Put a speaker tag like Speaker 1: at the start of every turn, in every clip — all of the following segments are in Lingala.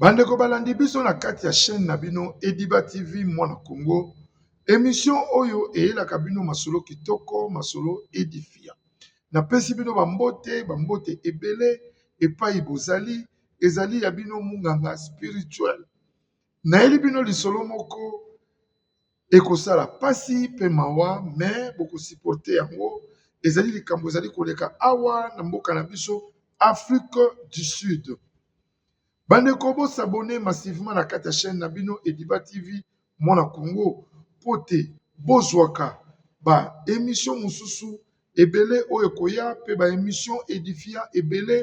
Speaker 1: Bandeko balandi biso na kati ya chaîne na bino Ediba TV Mwana Congo, emission oyo eyelaka bino masolo kitoko, masolo edifia. Napesi bino bambote, bambote ebele epai bozali, ezali ya bino munganga spirituel. Nayeli bino lisolo moko ekosala mpasi mpe mawa, me bokosiporte yango. Ezali likambo ezali koleka awa na mboka na biso Afrique du Sud. Bandeko bo s'abonner massivement na kati ya chaîne na bino Ediba TV mwana Congo mpo te bozwaka ba emission mosusu ebele oyo ekoya mpe ba emission edifiant ebele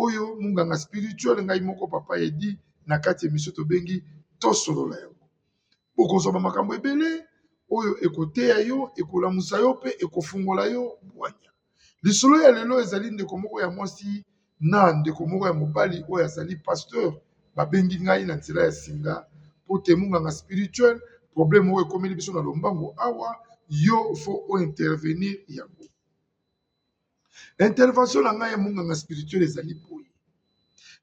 Speaker 1: oyo munganga spirituel ngai moko papa edi na kati ya emission tobengi tosolola yango bokozwa ba makambo ebele oyo ekoteya yo ekolamusa yo mpe ekofungola yo bwanya. Lisolo ya lelo ezali ndeko moko ya mwasi na ndeko moko ya mobali oyo azali pasteur babengi ngai na nzela ya singa po te munganga spirituel problème oyo ekomeli biso na lombango awa yo fo o intervenir yango intervention na ngai ya munganga spirituel ezali boye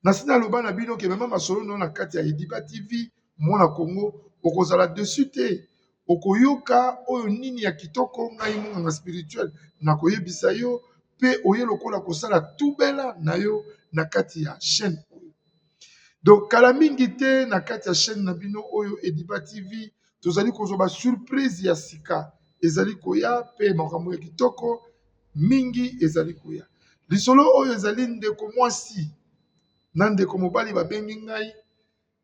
Speaker 1: nasi naloba na bino ke mema masolo na yo na kati ya ediba tv mwana kongo okozala dessus te okoyoka oyo nini ya kitoko ngai monganga spirituel na koyebisa yo pe oye lokola kosala tubela na yo na kati ya chaine oyo donc kala mingi te na kati ya chaine na bino oyo ediba tv tozali kozwa ba surprise ya sika ezali koya pe makambo ya kitoko mingi ezali koya lisolo oyo ezali ndeko mwasi na ndeko mobali babengi ngai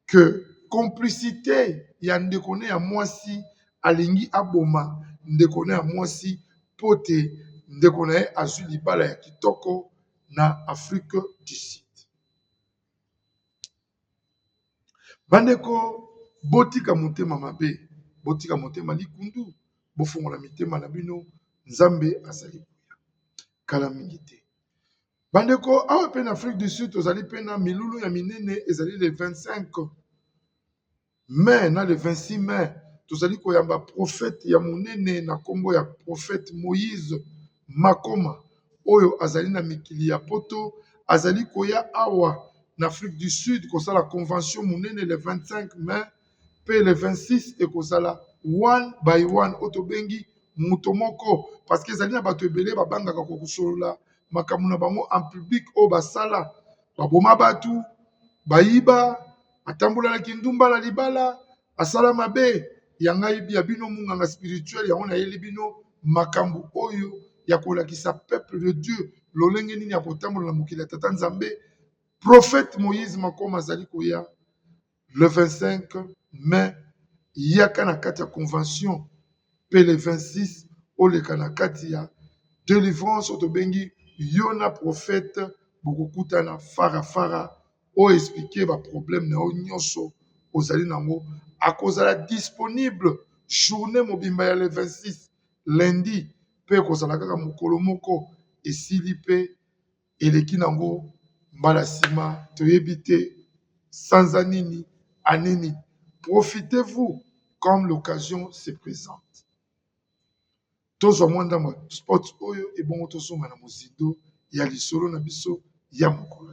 Speaker 1: que complicité ya ndeko ne ya mwasi alingi aboma ndeko ne ya mwasi mpo te ndeko na ye azwi libala ya kitoko na afrique du sud Bandeko botika motema mabe botika motema likundu bofongola mitema na bino nzambe azali koya kala mingi te bandeko awa pe na afrique du sud tozali pe na milulu ya minene ezali le 25. Mai na le 26 mai, tozali koyamba prophète ya monene na kombo ya prophète Moïse Makoma oyo azali na mikili ya poto azali koya awa na Afrique du Sud kosala convention monene le 25 mai pe le 26 ekozala one by one oyo tobengi moto moko parce que ezali na bato ebele babangaka kokosolola makambo na bango en public oyo basala baboma batu bayiba atambola na kindumba na libala asala mabe ya ngai ya bino munganga spirituel yango nayeli bino makambo oyo ya kolakisa peuple de dieu lolenge nini ya kotambola na mokili ya tata nzambe prophète moïse makoma azali koya le 25 mai yaka na kati ya convention mpe le 26 oleka na kati ya delivrance oyo tobengi yo na prophète bokokutana fara fara o explique ba problème na yo nyonso ozali na yango akozala disponible journée mobimba ya le 26 lundi mpe ekozala kaka mokolo moko esili mpe eleki nango mbala sima toyebi te sanza nini anini profitez vous comme l'occasion se presente tozwa mwa ndambo ya spot oyo ebongo tozonga na mozindo ya lisolo na biso ya mokolo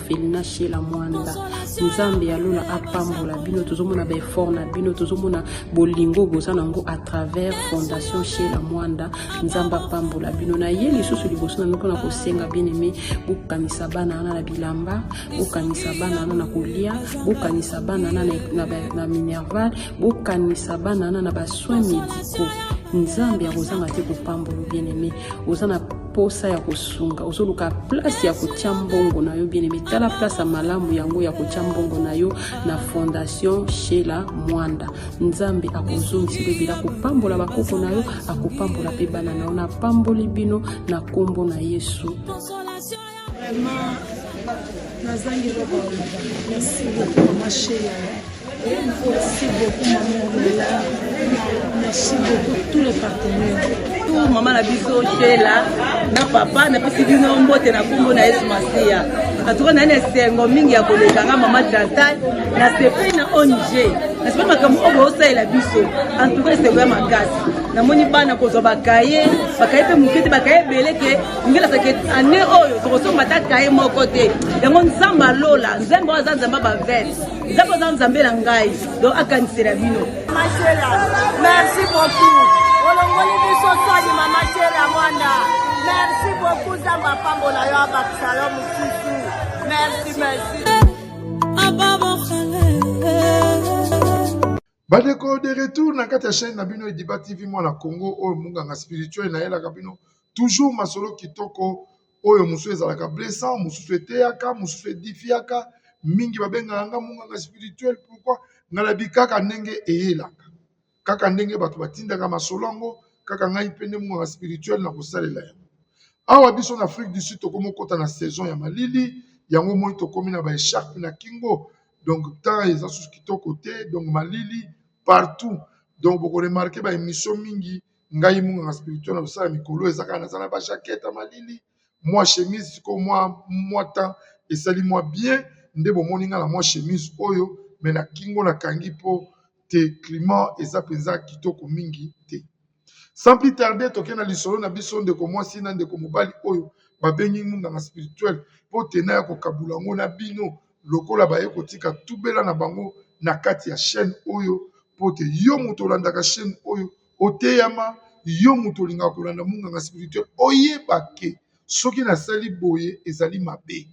Speaker 2: felina shela mwanda nzambe ya lola apambola bino tozomona baeffort na bino tozomona bolingo boza na yango à travers fondation shela mwanda nzambe apambola bino na ye lisusu liboso na bino mpona kosenga bien aime bokanisa bana wana na bilamba bokanisa bana wana na kolia bokanisa bana wana na minerval bokanisa bana wana na basoin médicaux nzambe akozanga te kopambola bien aime oza na posa ya kosunga ozoluka place ya kotya mbongo na yo bien aime tala place ya malamu yango ya kotya mbongo na yo na fondation shela mwanda nzambe akozongisa ebebela akopambola bakoko na yo akopambola mpe bana na yo napamboli bino na nkombo na yesu
Speaker 3: Vraiment, nazangi eloko merci beaucoup ma chérie merci beaucoup maman Lola merci beaucoup tous les partenaires tout mama na biso
Speaker 4: shela na papa napesi bino mbote na nkombo na yesu masiya atuka naye na esengo mingi ya koleka nga mama chantal nasepeli na ong nasepeli makambo oyo boosalela biso antuka esengo ya makasi namoni bana kozwa bakaye bakaye mpe moke te bakaye ebele ke ngela sake ane oyo tokosomba ata kaye moko te yango nzambe alola nzambe oyo aza nzambe bavete nzambe oza nzambe na ngai donc akanisela bino mashela
Speaker 5: merci beaucoup olongoli biso soni mama shela mwanda merci beaucoup nzambe apambola yo abakisa yo mosusu merci merci
Speaker 1: Bandeko de retour na kati ya chaîne na bino Ediba TV mwana Congo oyo munganga spirituel na yelaka bino toujours masolo kitoko oyo mosusu ezalaka blessant mosusu eteyaka mosusu edifiaka mingi babengaka nga munganga spirituel pourquoi nga nabi kaka ndenge eyelaka kaka ndenge bato batindaka masolo yango kaka ngai mpe nde munganga spirituel na kosalela yango awa biso na Afrique du Sud tokomi kokota na saison ya malili yango moi tokomi na ba echarpe na kingo donc temps eza susu kitoko te donc malili partout donc boko remarke ba émission mingi ngai munganga spirituel na kosala mikolo eza kaka naza na ba jaquette ya malili mwa chemise sikoyo mwa mwa temps esali mwa bien nde bomoni ngai na mwa chemise oyo me na kingo nakangi mpo te climat eza mpenza kitoko mingi te Sans plus tarder, toke na lisolo na biso ndeko mwasi na ndeko mobali oyo babengi munganga spirituel mpo tena ya kokabula yango na bino lokola baye kotika tubela na bango na kati ya chaîne oyo mpo te yo moto olandaka chaîne oyo oteyama yo moto olingaka kolanda munganga spirituel oyeba ke soki nasali boye ezali mabe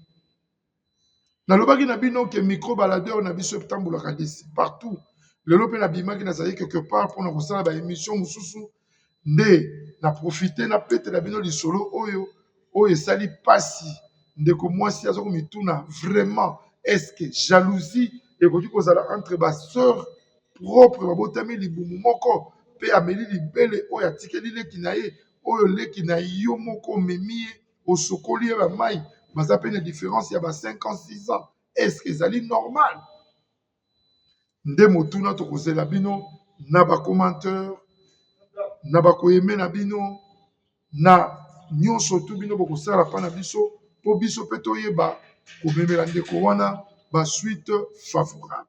Speaker 1: nalobaki na bino ke micro baladeur na biso etambolaka desi partout lelo mpe nabimaki nazali quelque part mpona kosala ba emission mosusu nde na profite na petela bino lisolo oyo oyo esali mpasi ndeko mwasi aza komituna vraiment eske jalousie ekoki kozala entre ba sœur propre babotami libumu moko mpe ameli libele oyo atikeli leki na ye oyo leki na yo moko omemi ye osukoli ye ba mayi baza pe na difference ya ba 5 ans 6 ans est ce que ezali normal nde motuna tokozela bino na ba commenteur na bakoyeme na bino na nyonso tu bino bokosala mpa na biso mpo biso mpe toyeba komemela ndeko wana basuite favorable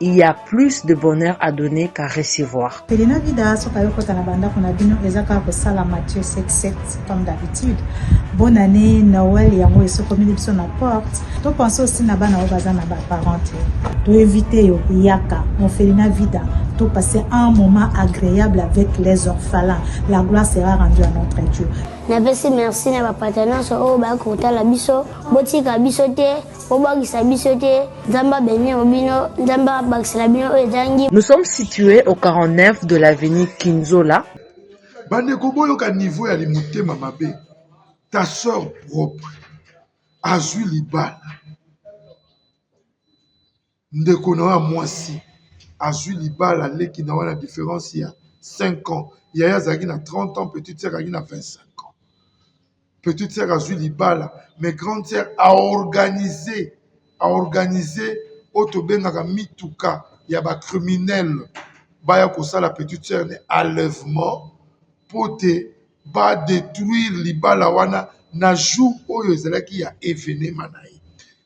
Speaker 6: il y a plus de bonheur à donner qu'à recevoir. Elena Vida, soki
Speaker 7: ayokota na banda kuna bino eza kaka kosala Mathieu 77 comme d'habitude. Bonne année Noël yango esokomeli biso na porte. To pense aussi na bana oyo baza na ba parents te. To éviter yo yaka mon Felina Vida. To passer un moment agréable avec les orphelins. La gloire sera rendue à notre Dieu. napesi merci
Speaker 8: na bapartenance oyo bakoki kotala biso botika biso te bobangisa biso te nzambe abenio bino nzambe abakisela bino oyo ezangi nous sommes situés
Speaker 6: au 49 de l'avenue kinzola bandeko
Speaker 1: boyoka niveau ya limotema mabe ta sœur propre azwi libala Ndeko na yo ya mwasi azwi libala leki na yo na difference ya 5 ans ya ye azalaki na 30 ans petite sœur azalaki na 25 ans petite sœur azwi libala mais grande sœur a organise a organise oyo tobengaka mituka ya ba criminele baya kosala petite sœur ne enlèvement mpo te ba detruire libala wana na jour oyo ezalaki ya evenema na ye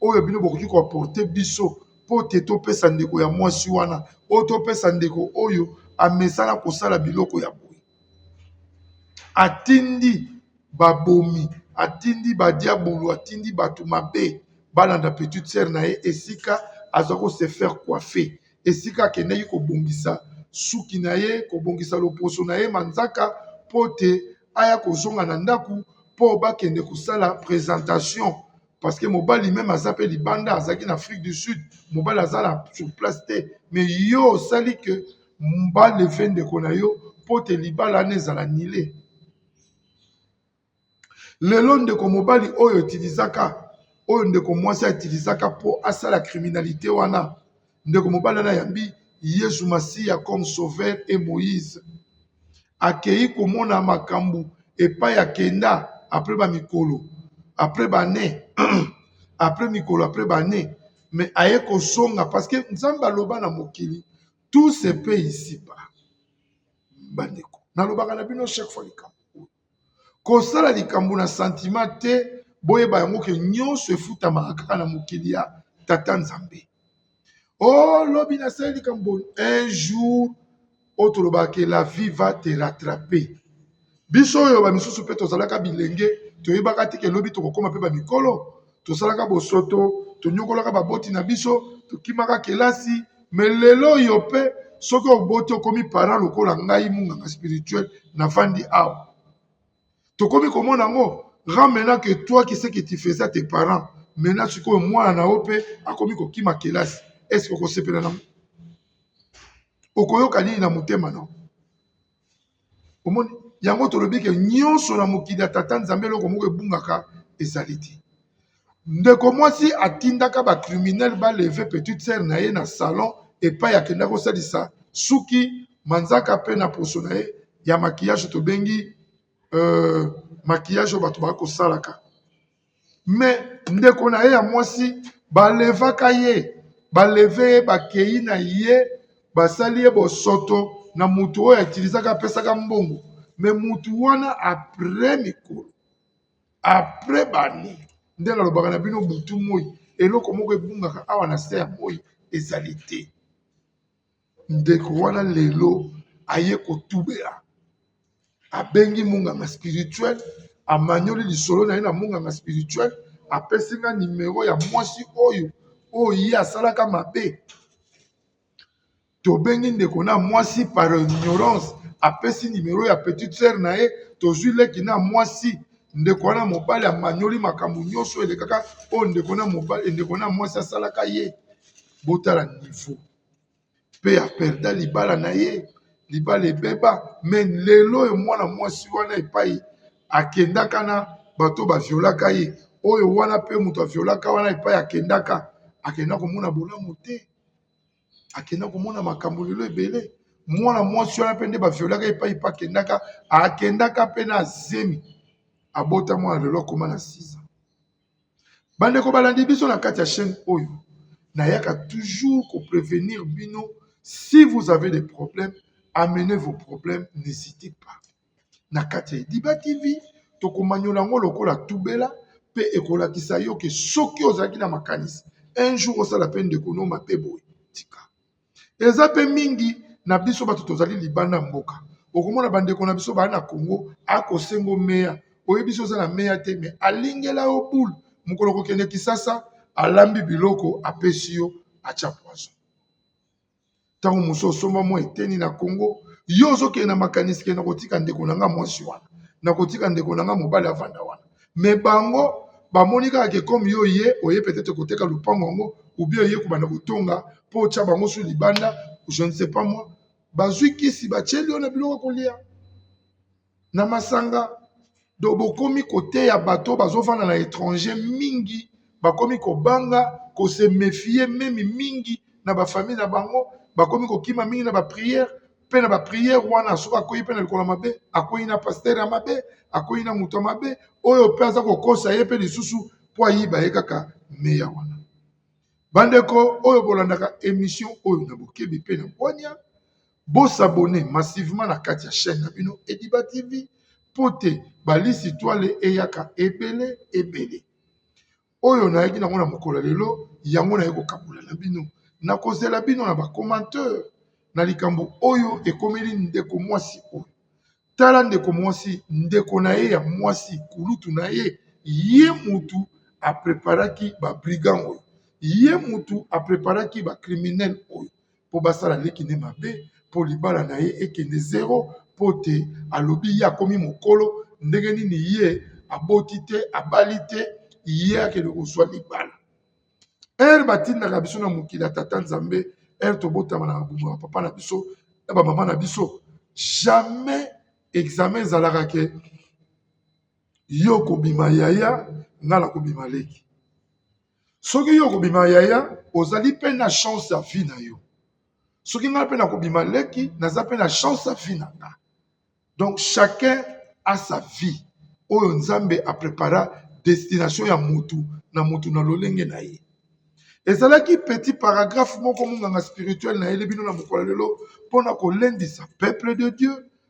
Speaker 1: oyo bino bokoki ko apporter biso mpo te topesa ndeko ya mwasi wana oyo topesa ndeko oyo amesana kosala biloko ya boye atindi babomi atindi badiabulu atindi bato mabe balanda petite sere na ye esika aza ko se faire coiffe esika akendaki kobongisa suki na ye kobongisa loposo na ye manzaka mpo te aya kozonga na ndako mpo bakende kosala presentation parce que mobali meme aza pe libanda azalaki na afrique du sud mobali aza na sur place te mais yo osali que balefe ndeko na yo mpo te libala wana ezala nile lelo ndeko mobali oyo utilisaka oyo ndeko mwasi autilisaka mpo asala criminalité wana ndeko mobali wana ayambi yesu masiya comme sauveur et moïse akei komona makambo epai akenda après bamikolo après bane après mikolo après bane mais aye kozonga parce que nzambe aloba na mokili tout se peut ici ba bandeko nalobaka na bino chaque fois likambo oyo Kosala likambo na santima te, boyeba yango ke nyonso efutamaka kaka na mokili ya Tata Nzambe. Oh, lobi nasali likambo un jour oyo tolobaka ke la vie va te rattraper. Biso oyo ba misusu mpe tozalaka bilenge toyebaka te ke lobi tokokoma mpe ba mikolo. tosalaka bosoto tonyokolaka baboti na biso tokimaka kelasi me lelo oyo mpe soki oboti okomi parent lokola ngai munganga spirituel na vandi awa tokomi komona yango rend maintenant que toi qui ce que tu faisais à tes parents maintenant sikoyo mwana na yo mpe akomi kokima kelasi est ce que okosepela nango okoyoka nini na motema na yo omoni yango tolobi ke nyonso na mokili ya tata nzambe eloko moko ebungaka ezali te ndeko mwasi atindaka bacriminel baleve petite sere na ye na salon epai akenda kosalisa suki manzaka mpe na poso na ye ya makiyage tobengi uh, makiyage oyo bato bakosalaka mais ndeko na ye ya mwasi balevaka ye baleve ye bakei na ye basali ye bosoto na mutu oyo atilizaka apesaka mbongo me mutu wana apres mikolo apres bane nde nalobaka na bino butu moi eloko moko ebungaka awa na se ya moi ezali te ndeko wana lelo aye kotubela abengi munganga spirituel amanyoli lisolo na ye na munganga spirituel apesi nga nimero ya mwasi oyo oyo ye asalaka mabe tobengi ndeko na mwasi par ignorance apesi nimero ya petite sœur na ye tozwi leki na mwasi ndeko wana mobali amanyoli makambo nyonso elekaka oyo ndeko na mobali ndeko na mwasi asalaka ye botala niveau pe a perda libala na ye libala ebeba mais lelo oyo mwana mwasi wana epai akendaka na bato ba violaka ye oyo wana pe moto a violaka wana epai akendaka akenda komona bolamu te akenda komona makambo lelo ebele mwana mwasi wana pe nde ba violaka epai pe akendaka akendaka pe na zemi abota mwana lelo akoma na 6 ans. bandeko balandi biso na kati ya chaîne oyo nayaka toujours ko prévenir bino si vous avez des problèmes amenez vos problèmes n'hésitez pas na kati ya Diba TV tokomanyola yango lokola tubela mpe ekolakisa yo ke soki ozalaki na makanisi un jour osala mpe ndeko no mabe boye tika eza pe mingi na biso bato tozali libanda mboka okomona bandeko na biso baa na congo akosengo meya oyebisi oza na meya te me alingela yo boule mokolo kokende kisasa alambi biloko apesi yo atya poison ntango mosu osomba mwa eteni na congo yo ozokende na makanisi kende nakotika ndeko na nga mwasi wana nakotika ndeko na nga mobali avanda wana mais bango bamoni kaka ke comme yo ye oye peut-être koteka lopango yango ou bien oye kobanda kotonga mpo otya bango su libanda je ne sais pas moi bazwi kisi batyeli yo na biloko ya kolia na masanga donc bokomi koteya bato bazofanda na étranger mingi bakomi kobanga kose mefie meme mingi na bafamille na bango bakomi kokima mingi na bapriere mpe na bapriere wana soki akwei mpe na likolo mabe akwei na pastere ya mabe akwei na moto ya mabe oyo mpe aza kokosa ye mpe lisusu mpo ayiba ye kaka meya wana bandeko oyo bolandaka emission oyo na bokebi mpe na bwania bosabone massivement na kati ya chaîne na bino ediba tv mpo te balisi twale eyaka ebele ebele oyo nayaki nango na mokolo ya lelo yango naye kokabola na bino na kozela bino na bacommentaire na likambo oyo ekomeli ndeko mwasi oyo tala ndeko mwasi ndeko na ye ya mwasi kulutu na ye ye mutu apreparaki babrigand oyo ye mutu apreparaki bacriminel oyo mpo basala leki nde mabe mpo libala na ye ekende zero mpo te alobi ye akomi mokolo ndenge nini ye aboti te abali te ye akende kozwa libala ere batindaka biso na mokili ya tata nzambe ere tobotama na mabumba ya papa na biso na bamama na biso jamais exame ezalaka ke yo kobima yaya nga na kobima leki soki yo okobima yaya ozali mpe na chance ya vie na yo soki ngai mpe nakobima leki naza mpe na chance ya vie na nga donc chacun a sa vie oyo nzambe aprepara destination ya mutu na mutu na lolenge na ye ezalaki petit paragraphe moko monganga spirituel na yele bino na mokolo lelo mpo na kolendisa peuple de dieu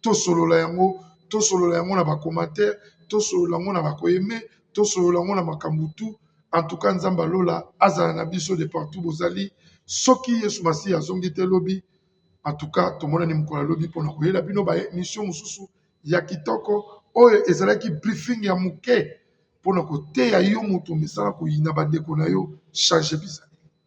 Speaker 1: tosolola yango tosolola yango na ba commentaire tosolola yango na ba ko aime tosolola yango na makambo tu en tout cas nzambe ya lola azala na biso de partout bozali soki yesu masiya azongi te lobi en tout cas tomonani mokolo ya lobi mpona koyela bino ba émission mosusu ya kitoko oyo ezalaki briefing ya moke mpona koteya yo moto omesana koyina bandeko na yo change bizali